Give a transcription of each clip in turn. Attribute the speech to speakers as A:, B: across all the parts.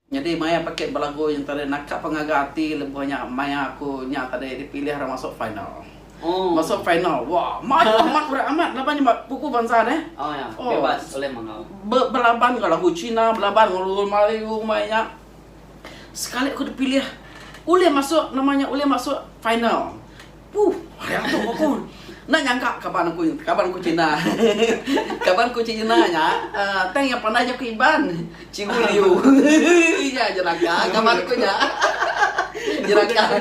A: Nyadi maya pekit belagu nya tadi naka pengaga ati lebuh nya maya aku nya tadi dipilih ra masuk final. Masuk final wah mayuh amat berat amat laban nya ba pupu bansa deh. Oh
B: be belaban enggau lagu
A: cina belaban enggau lagu melayu maya nya sekali aku dipilih ulih masuk nama nya ulih masuk final. Huh, mayak tu aku. Enda nyangka kaban aku kaban aku Cina. kaban aku Cina nya tang iya pandai jaku Iban. Cikgu Liu. Iya jeraka kaban aku nya. jeraka.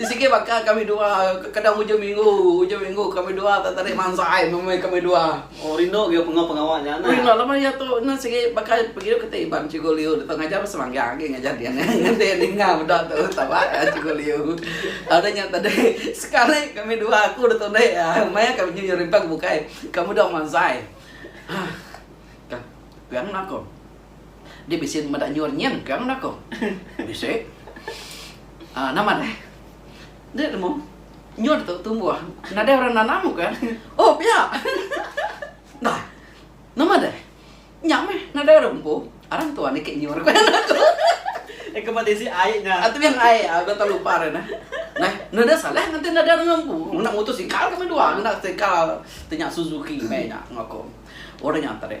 A: Sigi baka kami dua kadang ujung minggu, ujung minggu kami dua tetarik mansai meh kami dua. Oh rindu gila penga
B: pengawa nya nah. Ui enda lama iya tu
A: enda sigi baka pegio keti iban cikgu Liu tu tau ngajar masa manggang agi ngajar dia nya ngendi ninga meda tu taba layan cikgu Liu. Tau deh nya tadi sekali kami dua aku da tu deh meh aku nyu nyu rimpang bukai ka meda manzai. Hah ka pegang aku. Dia bisi meda nyur nyin ke ngagai aku. Bisi. Ah, nama ne? Dek lemu. Nyur tu tumbuh. Nadai orang nanam ke? Oh, pia. Nah. Nama deh? Nya meh, nadai orang empu. Aram tuan niki nyur ku anak aku. Nya ke ba
B: tisi ai nya. Ah, tebing ai. Ah, udah
A: talu par nya neh. Neh, nadai salah ngati nadai orang empu. Ngena motosikal kami dua, ngena sikal tu nya Suzuki meh nya ngaku orang nya tadi.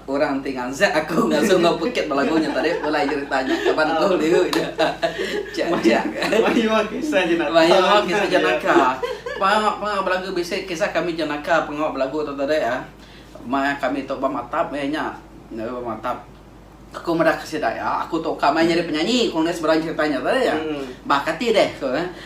A: Orang ti ngansak aku ngasu enggau pekit belagu nya tadi pulai jerita nya kaban aku liu nya. Chak chak. Mayuh
B: kisah jenaka. Mayuh kisah jenaka.
A: Pengawa pengawa belagu bisi kisah kami jenaka pengawa belagu tu tadi ah. Maya kami tu ba matap maya nya. Maya ba matap. Aku meda ke sida iya aku tu ka mai nyadi penyanyi aku nulis bala jerita nya tadi ah. Bah kati deh aku.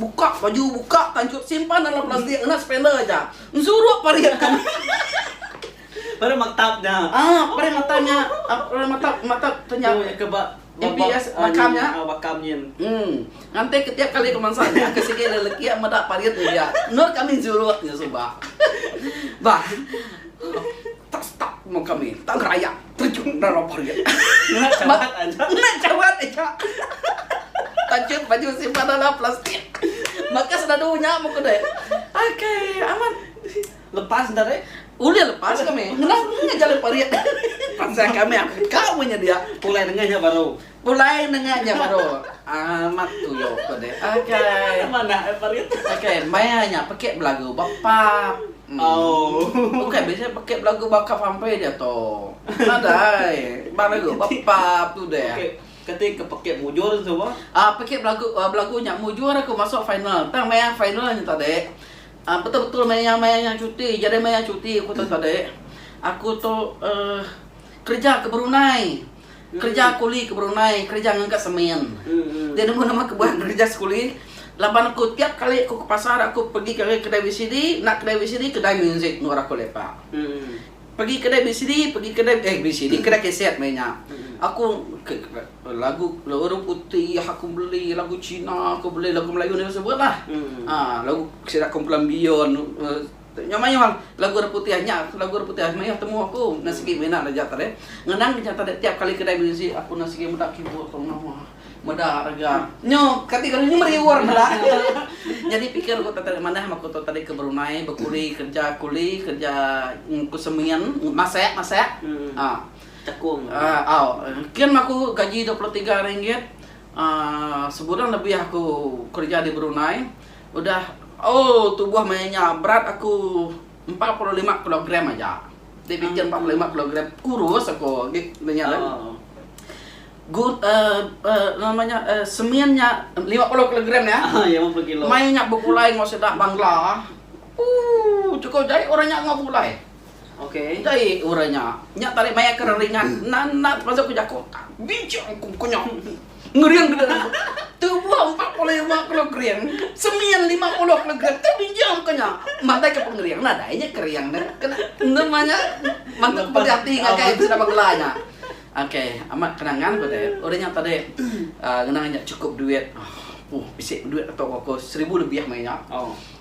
A: Buka baju, buka tanchut simpan dalam plastik ngena spender aja. Ensuruk parit ka nya.
B: Parit matap nya. Ah, parit matap
A: nya. Parit matap, matap tu nya. Tu ke ba
B: MPS
A: bakam nya. Ah, bakam nyin. Em, nganti ke tiap kali kemansa nya ke sigi lelaki meda parit ngebiak. Endor kami ensuruk nya suba. Bah. Tak stuck pun kami. Tak ngerayak. Terjun enggau rubber nya. Ngena cawat aja. Ngena cawat aja. Tajut baju simpan dalam plastik. Maka senadu nya meh ku deh. Okay, amat. Lepas
B: enda deh? Ulih lepas kami.
A: Ngena ngena jalai parit. Pansa kami. Ka meh nyedia. Pulai nengah nya baru.
B: Pulai nengah nya baru
A: amat tuyuh ko deh. Akai. Nama anak eh
B: parit. Akai maya
A: nya pekit belagu ba pub. Oh. Bukai bisi pekit belagu ba kap sampai dia to. Nadai. Ba lagu ba pub tu deh. Okey. Keti ke pekit
B: mujur tu ba? Ah pekit belagu uh,
A: belagu nya mujur aku masuk final. Tang maya final nya tadi. Ah betul-betul maya maya nya cuti. Jadi maya cuti aku tu tadi. Aku tu uh, kerja ke Brunei. Kereja kuli ke berundai kereja ngaga semen. Dia nemu nama ke buah kereja sekuli laban aku tiap kali aku ke pasar aku pegi ngagai kedai VCD, enda kedai VCD kedai muzik endur aku lepa. Pegi kedai VCD pegi kedai eh VCD kedai keset meh nya. Aku lagu orang putih aku beli lagu cina aku beli lagu melayu nya sebutlah. Lagu sida kumpulan beyond. Nya mayuh lagu Orang Putih nya lagu Orang Putih mayuh temu aku enda sigi mina ne aja tadi. Ngenang ke nya tadi tiap kali kedai muzik aku enda sigi meda keyboard tau ngena mah. Meda rega. Nyo kati kali nyu meri award meda. Nyadi pikir ku tadi manah aku tu tadi ke berumai bekuli kerja kuli kerja ku semin masak masak ah
B: tekong
A: au kin mah aku gaji dua puluh tiga ringgit ah sebulan lebih aku kerja di Brunei. Udah ooh tubuh maya nya berat aku empat puluh lima kilogram aja. Ti pikir empat puluh lima kilogram kurus aku git nya kan. Good uh, uh, nama nya uh, semin nya lima puluh kilogram ya. Ah, ya lima puluh kilo. Maya
B: nya begulai ngau
A: sida bangla. Uh, cukup jai orang nya ngau begulai. Endai
B: orang nya.
A: Nya tarik maya ke reringat enda enda termasuk ke jaku tak bijak engku ke nya. Ngering ke diri. Tebuh empat puluh lima kilogram, semin lima puluh kilogram tak bijak engku nya. Matai ke pengering nadai nya kering deh. Kena enda mah nya mantu ke peda ati ngagai sida bengela nya. Ok amat kenangan ku deh. Orang nya tadi uhh ngena nya chukup duit. Huh bisi duit atuk aku seribu lebih meh nya.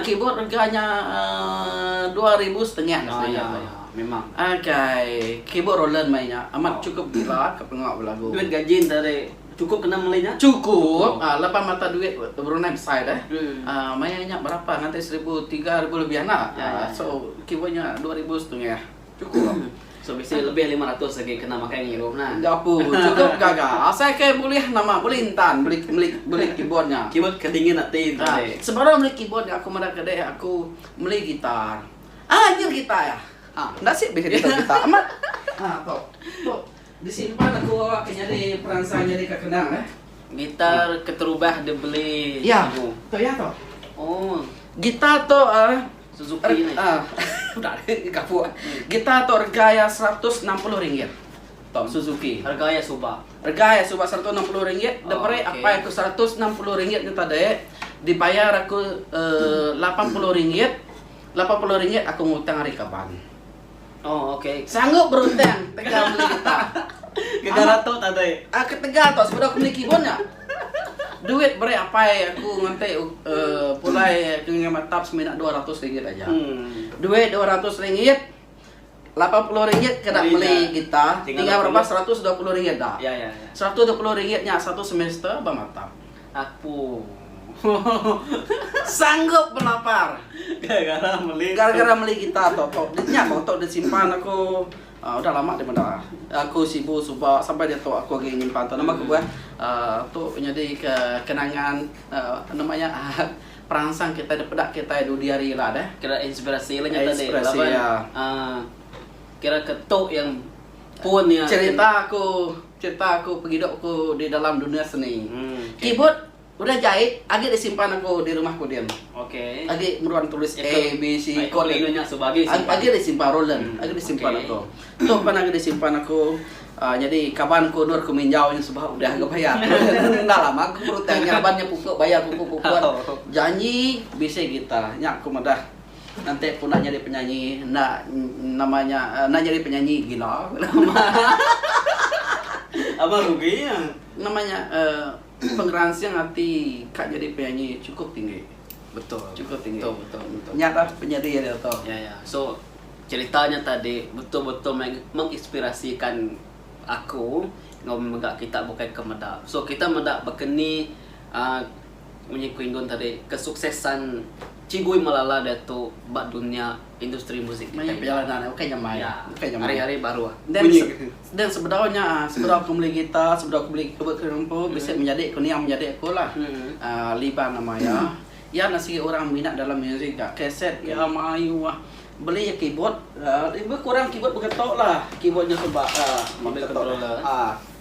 B: Keyboard rega nya
A: dua ribu setengah seduai keyboard Roland meh nya amat chukup gila ke pengawa belagu.
B: Chukup
A: laban mata duit Brunei besai deh maya nya berapa ngagai seribu tiga ribu lebih enda so keyboard nya dua ribu setengah. Chukup. So bisi
B: lebih lima ratus agi kena makai ngirup nah. Enda pun chukup
A: gaga. Asai ke bulih nama bulih entan beli beli beli keyboard nya. Keyboard ke dingin
B: ati enta deh. Ha sebara beli
A: keyboard nya aku meda ke deh aku meli gitar. Ah nyer gitar ah. Ha enda sik bisi gitar gitar amat. Ha tu. Tu. Bisi nempat aku awak ke nyadi peransang nyadi ka kendang eh. Gitar
B: keterubah dibeli
A: ibu. Ya tu ya tu. Oh. Gitar tu uh, Suzuki ni.
B: Uh, udah
A: gapu. Gitar tu rega ya seratus enam puluh ringgit. Tom Suzuki. Harga ya suba. Harga
B: ya suba seratus
A: enam puluh ringgit. Oh, Depere okay. apa aku seratus enam puluh ringgit ni tadi. Dibayar aku eh, lapan puluh ringgit. Lapan puluh ringgit aku ngutang hari kaban. Oh, okey.
B: Sanggup beruntang
A: tegal beli getah. Gegar atuk
B: tak deh. Ah, ketegal tok sebedau aku
A: beli kibon nya. Duit beri apai aku nganti uh, pulai ke ngai matap semina RM200 aja. Hmm. Duit RM200 lapan puluh ringgit kena beli gitar, tinggal berapa? Seratus dua puluh ringgit dah. Ya, ya, ya. Seratus dua puluh
B: ringgit nya
A: satu semester bermatap. Aku. Sanggup belapar. Gara-gara meli. Gara-gara meli gitar tu aku. Nya aku tu disimpan aku. Uh, udah lama dia meda. Aku sibu suba sampai dia tu aku agi nyimpan tu. Nama aku buah. Uh, tu nyadi ke kenangan uh, nama nya uh, peransang kita da peda kita dudi hari ila deh. Kira inspirasi lah nya
B: tadi. Inspirasi ya. Uh, kira ketu yang pun ya. Cerita aku.
A: Cerita aku pengidup aku di dalam dunia seni. Keyboard udah jait agi disimpan aku di rumah ku din. Agi
B: meruan tulis
A: A, B, C chord
B: agi disimpan Roland
A: agi disimpan aku. Tu pan agi disimpan aku nyadi kaban aku endur aku minjau nya sebab udah ga bayar. Enda lama aku berutang nya laban nya pupu bayar pupu puput janji bisi gitar nya aku madah. Ngantik ku nak nyadi penyanyi enda nama nya enda nyadi penyanyi gila
B: Abang rugi nya nama nya
A: pengeransing ati ka nyadi penyanyi cukup tinggi betul cukup
B: tinggi betul betul betul nya dah penyedi
A: dia tu ya ya so
B: cerita nya tadi betul betul menginspirasikan aku enggau mega kita bukai ke meda so kita meda baka ni uh, Munyi ku Indon tadi, kesuksesan Chigui Malala diatu ba dunya industri muzik kitai nya. Ya,
A: ari-ari
B: baruh. Then
A: sebedau nya, sebedau aku meli guitar, sebedau aku meli keyboard kena ngempu, bisi menyadi ku niang menyadi aku lah. Liban nama iya. Iya enda sigi orang minat dalam muzik ga. Kaset iya mayuh ah. Beli iya keyboard, lebih kurang keyboard begetok lah. Keyboard nya tu ba, ah, controller.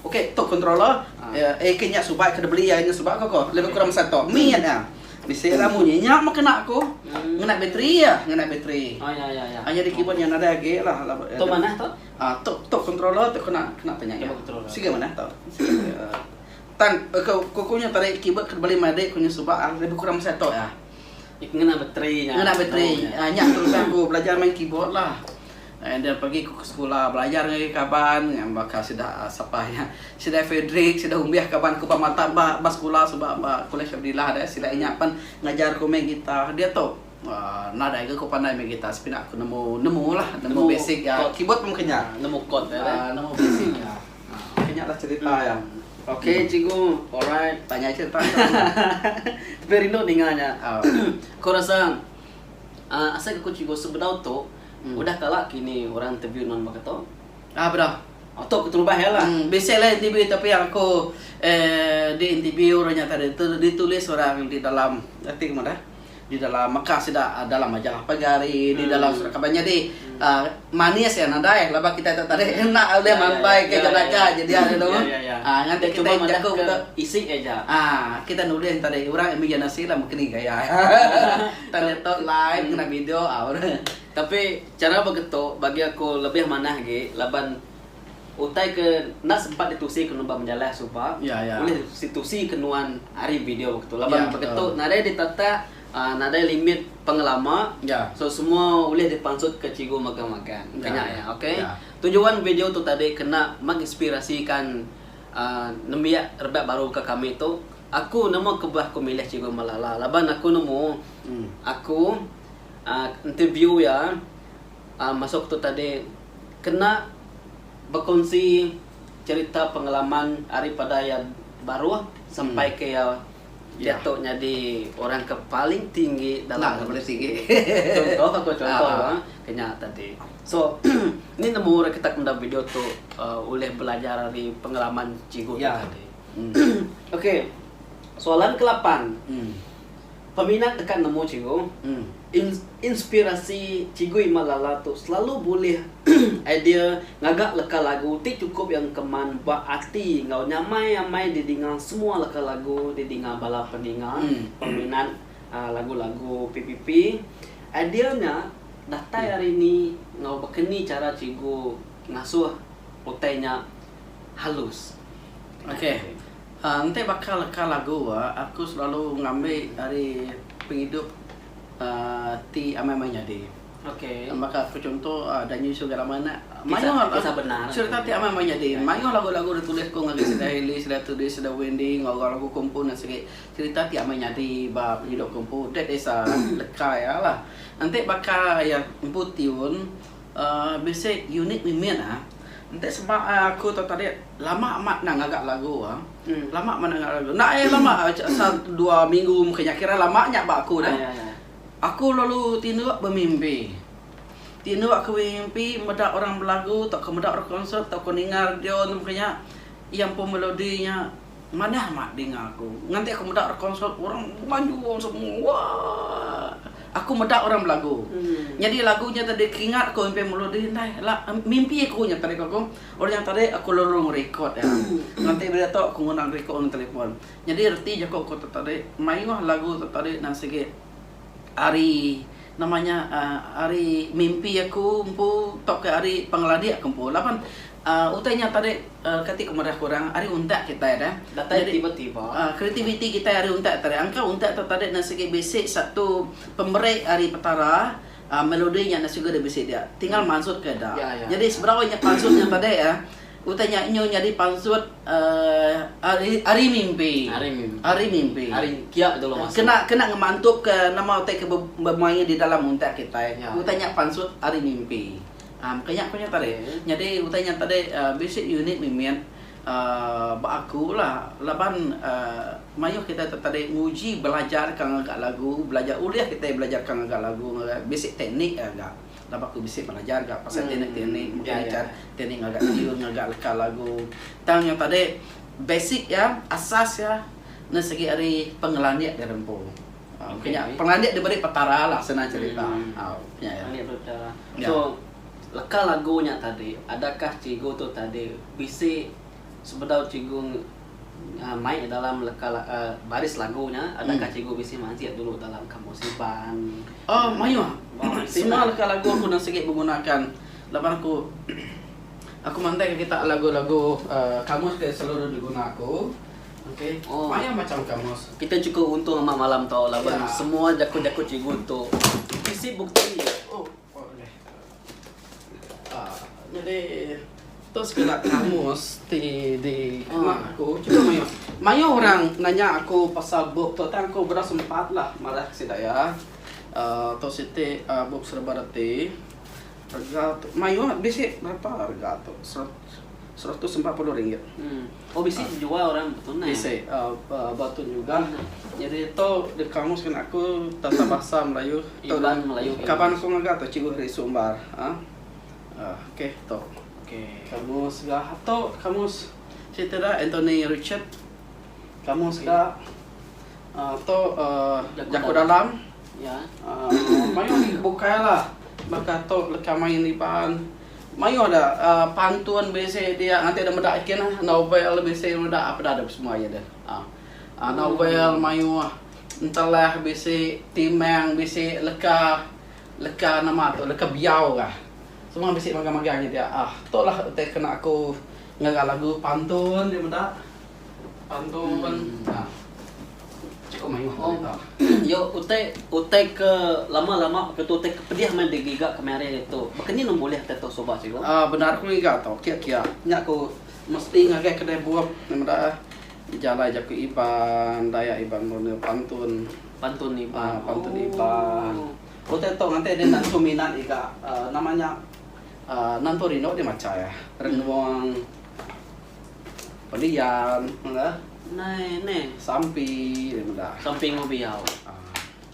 B: Ok tu
A: controller eh ke nya suba ke deh beli ai nya suba ko ko lebih kurang masa tu min nya bisi la munyi nya meh kena ku ngena bateri ah ngena bateri ai nyadi
B: keyboard nya nadai
A: agi la tu manah
B: tu ah tu tu controller
A: tu kena kena tu nya siga manah tu tan ke ku ku nya tadi keyboard ke beli meh adi ku nya suba ah lebih kurang masa tu ah
B: ngena bateri
A: nya ngena bateri nya terus aku belajar main keyboard la Enda pergi ku ke sekula belajar ngagai kaban ngan baka sida sapa iya sida Frederick sida Umbih kaban ku ba mata ba ba sekula suba ba Kolej Abdillah deh sida inya pen ngajar ku main gitar diatu aaa nadai ga ku pandai main gitar sepina ku nemu nemu lah nemu basic iya keyboard pun maka nya nemu kod dia deh aaa
B: nemu basic iya
A: maka nya lah cerita iya ok cikgu
B: alright banyak agi cerita tapi rindu ninga nya aaa ku rasa aaa asai ga ku cikgu sebedau tu. Udah kala kini orang interview nuan baka tu. Ah bra. Oh
A: tu keterubah
B: iya lah. Hmm, bisi lah interview tapi
A: yang aku eh, di interview orang nyata itu ditulis orang di dalam arti kemana dah? Di dalam Mekah sida ah, dalam majalah pagi hari, hmm. di dalam hmm. surat kabar jadi hmm. uh, manis ya nadai laba kita tak tadi enak oleh ya, ya, ya. mampai ya, ke ya, ya, jenaka ya, ya. jadi ada tu. Ya, ya, ya. Ah, ngan kita cuma jago kita isi aja.
B: Ah, kita nulis
A: tadi orang imajinasi lah mungkin gaya. Tang ngeto live ngena video au re. Tapi
B: chara ba geto bagi aku lebih manah agi laban utai ke enda sempat ditusi ke nuan menjalai suba yeah, yeah. ulih situsi ke nuan ari video begitu laban yeah, begitu nadai ditatak uh, nadai limit pengelama yeah. so semua ulih dipansut ke cikgu magang magang yeah. kena ya okey yeah. tujuan video tu tadi kena menginspirasikan uh, nembiak rebak baru ke kami tu Aku nama kebah aku milih Cikgu Malala laban aku nemu aku uhh interview iya uhh masu aku tu tadi kena bekunsi cerita pengalaman ari pada iya baruh sampai ke iya diatu nyadi orang ke paling tinggi dalam contoh
A: aku contoh
B: ba kenya tadi. So nih nemu orang kita ke meda video tu uhh ulih belajar ari pengalaman cikgu tu tadi. Okey. Soalan ke lapan. Peminat deka nemu cikgu. Inspirasi Cikgu Iman Lala tu selalu bulih idea ngaga leka lagu ti chukup iya engkeman ba ati enggau nyamai amai didinga semua leka lagu didinga bala peninga, peminat lagu-lagu PPP. Idea nya datai ari ni enggau baka ni chara cikgu ngasuh utai nya halus? Ok.
A: Enti baka leka lagu aku selalu ngambi ari pengidup ti amai meh nyadi. Baka
B: aku chunto
A: Danyu Isu Gak Lama nya mayuh
B: serita ti amai meh nyadi.
A: Mayuh lagu-lagu da tulis ku ngagai sida Heli, sida Tudy, sida Wendy enggau orang lagu Kompu nya sigi serita ti amai nyadi ba pengidup ku empu. That is leka iya lah. Enti baka iya empu tiun. Music unit mih min ah. Enti seba aku tu tadi lama amat enda ngaga lagu ah. Lama amat enda ngaga lagu. Enda ai lama asal dua minggu meh kenyah kira lama nya ba aku dah. Aku lalu tinduk bemimpi. Tinduk aku bemimpi meda orang belagu tauka meda orang konsert tauka ninga radio meh kinya iya empu melodi nya. Manah amat dinga aku. Nganti aku meda rekonsert orang bemanjung semua. Wah. Aku meda orang belagu. Nyadi lagu nya tadi keringat aku impi melodi indai. La mimpi aku nya tadi aku. Orang nya tadi aku lalu ngerekod iya. Nganti bila tu aku nguna ngerekod ngan telefon. Nyadi reti jaku aku tu tadi mayuh lagu tu tadi nan sigi. Ari nama nya uhh ari mimpi aku empu tauka ari pengeladi aku empu laban uhh utai nya tadi uhh kati ku madah kurang ari untak kitai dah datai tiba tiba
B: uhh kreativiti kitai ari
A: untak tadi angka untak tu tadi enda sigi bisi satu pemeri ari petara uhh melodi nya enda sigu bisi dia tinggal mansutka da jadi sebedau nya pansut nya tadi uhh. Utai nya nyu nyadi pansut ari mimpi. Ari mimpi. Ari mimpi.
B: Ari kia dulu masuk. Kena kena ngemantup ke
A: nama utai ke bemaie di dalam untak kitai. Ya. Utai nya pansut ari mimpi. Um maka nya ku nya tadi. Okay. Nyadi utai nya tadi um bisi unit mimit um ba aku la laban um maioh kitai tu tadi nguji belajar ka ngaga lagu, belajar ulih kitai belajar ka ngaga lagu ngaga bisi teknik aja. Laban aku bisi belajar ga pasal teknik-teknik mega ikan teknik ngaga tune ngaga leka lagu tang nyau tadi basic iya asas iya ne segi ari pengelandik diri empu ke nya pengelandik diberi petara lah senang cerita nya iya so
B: leka lagu nya tadi adakah cikgu tu tadi bisi sebedau cikgu Mai dalam leka baris lagu nya, adakah cikgu bisi majik dulu dalam kamus Iban? Oh, mayuh.
A: Semua leka lagu aku enda sigi begunaka laban aku aku mandangka kitak lagu-lagu kamus ti selalu diguna aku. Okey. Mayuh macham kamus. Kitak chukup untung amat
B: malam tu laban semua jaku-jaku cikgu tu bisi bukti. Oh, oh ulih.
A: Nyadi tu sekeda kamus ti dikena aku. Chunto mayuh. Mayuh orang nanya aku pasal bup tu tang aku bera sempat lah madah sida iya. Tu siti bup serba reti. Rega tu mayuh bisi berapa rega tu seratus empat puluh ringgit.
B: Oh bisi Ah. jua orang betunai. Bisi ah, ah,
A: batun juga. Jadi tu di kamus kena aku tata bahasa Melayu tu Iban, Melayu, Iban.
B: kaban aku ngaga tu
A: Cikgu Heri Sumbar. Ha. Ah, okey tu. Okey. Kamus ga tu kamus cerita dia Anthony Richard. Kamus ga ah, tu ah, Jaku Jaku Dalam. Dalam.
B: Nya mayuh
A: agi bukai la baka tu leka main iban mayuh da pantun bisi dia ngatik da meda kin lah novel bisi da meda apa da semua iya deh aaa novel mayuh entelah bisi timang bisi leka leka nama tu leka biau ka semua bisi magang magang nya dia aaa tu lah utai kena aku ngaga lagu pantun ti meda. Iyo,
B: utai utai ke lama-lama ke tu utai ke pedih meh digiga kemari tu. Baka ni nang bulih ati tu suba cikgu? Aa bendar aku ngiga
A: tu kia kia nya ku mesti ngagai kedai bup meh meda eh dijalai jaku Iban dayak Iban murni pantun. Pantun Iban. Aa
B: pantun Iban.
A: Ooh. Utai tu nganti deh nentu minat iga aa nama nya aa nentu rindu deh macha iya. Renung. Pelian mega. Nai ne.
B: Sampi ri
A: mega. Sampi enggau biau.
B: Ah.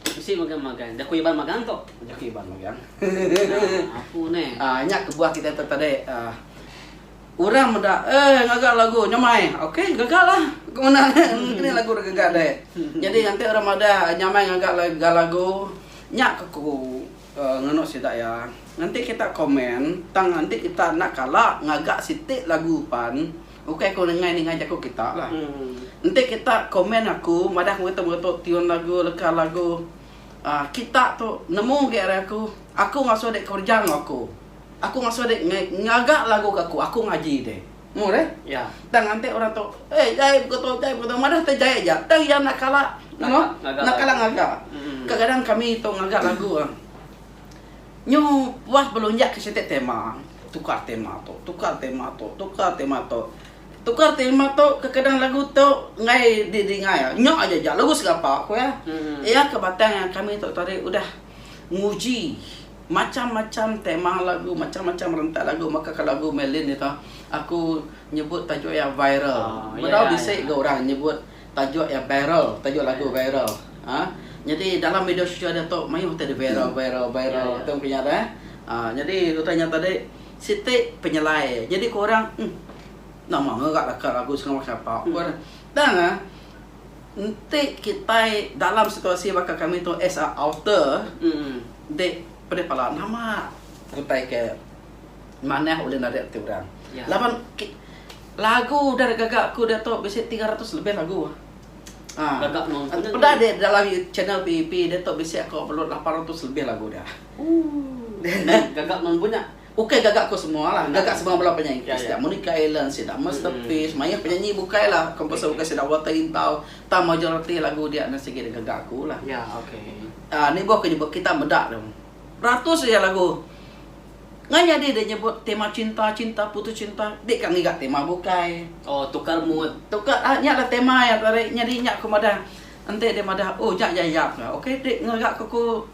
B: Bisi mega magang. Jaku Iban magang tu. Jaku Iban
A: magang.
B: Nah, aku ne. Ah, nya kebuah kita tu
A: tadi. Ah. Orang meda, eh ngaga lagu nyamai. Okey, gaga lah. Ke menda ne? Kini lagu dah gaga deh. Jadi nanti orang meda nyamai ngaga lagu. Nya ke ku. Ngeno sida iya, enti kita komen tang enti kita enda kala ngaga siti lagu pan ukai ku nengah nengah jaku kita lah. Enti kita komen aku madah metu metu tune lagu leka lagu uhh kita tu nemu agi ari aku, aku ngasuh dek kerja enggau aku. Aku ngasuh dek ngaga lagu ke aku, aku ngaji dek. Murih. Ya. Tang ante
B: orang tu,
A: eh jai buka tu, jai buka tu. Madah te jai aja. Tang iya enda kala nemu, enda kala ngaga. Kadang-kadang kami tu ngaga lagu ah. Nyu puas belunjak ke siti tema. Tukar tema tu, tukar tema tu, tukar tema tu. Tukar tema tu kadang-kadang lagu tu enggai di dinga iya. Nya aja ja lagu segapa ku iya. Iya ke batang kami tu tadi udah nguji. Macham-macham tema lagu, macham-macham rentak lagu maka ke lagu meh Lynn ito aku nyebut tajuk iya viral. Bedau bisi ga orang nyebut tajuk iya viral, tajuk lagu viral. Aa nyadi dalam media sosial diatu mayuh ti viral, viral, viral tu ku nya deh. Aa nyadi utai nya tadi siti penyelai nyadi ku orang emm nama ngaga laka lagu Sarawak Sapa ku orang. Tang ah. Enti kitai dalam situasi baka kami tu as a author di pedeh pala nama utai ke manah ulih narit ati orang. Laban lagu udah da gaga aku diatu bisi tiga ratus lebih lagu. Aaa
B: peda di dalam
A: channel PEP diatu bisi aku upload lapan ratus lebih lagu dia. Ooh.
B: Gaga mung bunya. Ukai gaga ko semua
A: lah, gaga semua bala penyanyi Kristian. Monica Allen sida, Masterpiece, mayuh penyanyi bukai lah, komposer bukai sida, Walter Intau, tang majoriti lagu dia enda sigi digaga aku lah.
B: Aa ni boh ko nyebut
A: kita meda tu. Beratus aja lagu. Ngai nyadi dia nyebut tema cinta, cinta putus cinta, di ka ngiga tema bukai. Oh tukar mood. Tukar aa nya lah
B: tema
A: iya tu ari, nyadi nya ko
B: madah
A: enti dia madah oh nya iya iya ka. Ukai ti ngaga ko ku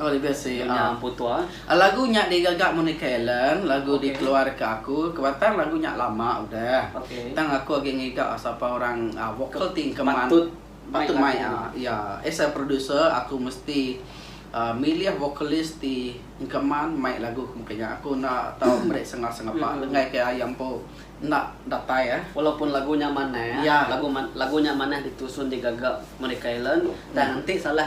B: Oh lega sih. Nyonya ah.
A: Empu Tua.
B: Lagu nya digaga
A: Monica Allen, lagu okay. dikeluarka aku ke batang lagu nya lama udah. Okay. Tang aku agi
B: ngiga
A: sapa orang uh, vokal ti keman patut patut mai
B: ah. Ya,
A: as a producer aku mesti uh, milih vokalis ti keman mai lagu ke muka nya. Aku enda tau meri sengah sengapa hmm. lengai ke ayam empu enda datai eh. Walaupun lagu nya manah,
B: ya. lagu lagu nya manah ditusun digaga Monica Allen, tang hmm. enti salah